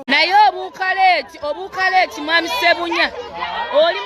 naye obuukaleeti obuukaleeti mwami sebunya oli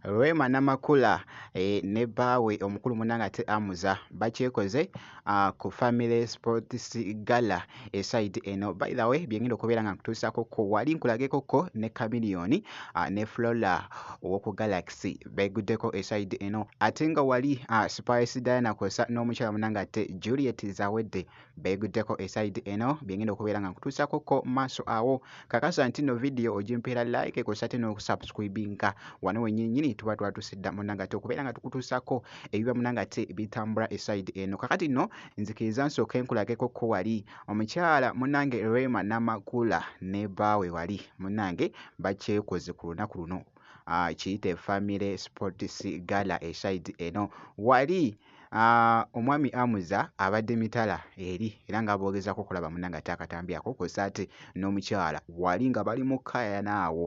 rema namakula e, ne baawe omukulu munanga ate amuza bakyekoze uh, ku family sports gala eside eh, eno by the way byengenda okubeera nga nkutuusako ko wali nkulageko ko ne chameleon uh, ne flora owoku galaxy beguddeko eside eh, eno ate nga wali uh, spice diana kosa n'omukyala munanga ate juliet zawedde beguddeko eside eh, eno byengenda okubeera nga nkutuusako ko maaso awo kakasa nti no vidiyo ogimpeera like kosa te n'okusubscribinga wano wenyini nyini tuba twatuusidda munanga te okubeera nga tukutuusako ebiba munanga te bitambula eside eno kakati no nzikiriza nsooke nkulageko ko wali omukyala munange rema namakula ne baawe wali munange bakyekoze ku lunaku luno ah, kiyite family sports gala esaidi eno wali Ah, omwami amuza abadde mitala eri era nga boogezako okulaba munanga ate akatambyako kwosa ate n'omukyala wali nga bali mu kayana awo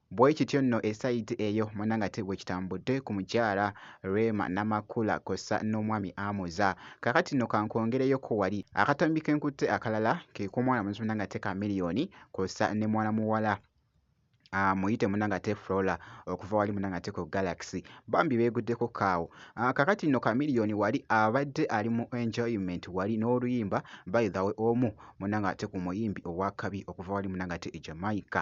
Bwekityo nno e sayidi eyo munange ate bwekitambudde ku mukyala Rema Namakula kwossa n'omwami Amuza. Kaakati nno kankwongereyo ko wali. Akatambi kenkutte akalala ke k'omwana mulenzi munange ate ka Million kwossa ne mwana muwala Ah, muyite munanga ate flora okuva wali munanga ate ku galaxy bambi beguddeko kaawo ah, kakati nno kamiliyoni wali abadde ali mu enjoyment wali n'oluyimba by the way omu munanga ate ku muyimbi owakabi okuva wali munanga ate e jamaica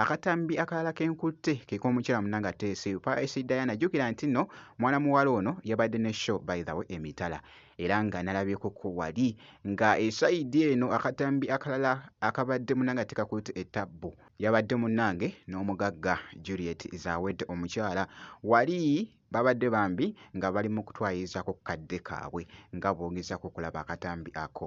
Akatambi akalala ke nkutte ke k'omukyala munange ateese eyo Paris Diana. Jjukira nti nno mwana muwala ono yabadde ne show by the way emitala era nga nalabyekoko wali nga esayidi eno akatambi akalala akabadde munange atekakutte ettabbu yabadde munange n'omugagga Juliet Zawedde omukyala wali babadde bambi nga bali mu kutwayirizako ku kadde kaabwe nga boogezako okulaba akatambi ako.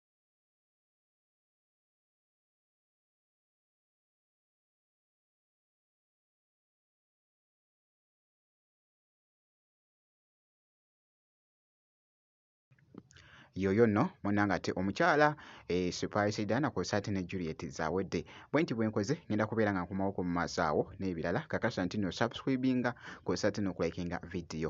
yoyo no munanga ate omukyala e eh, surprise dana ko sati ne Juliet zawedde bwenti bwenkoze ngenda kubeera nga nkomawo ku mazaawo n'ebirala kakasa ntino subscribinga ko sati no kulikinga video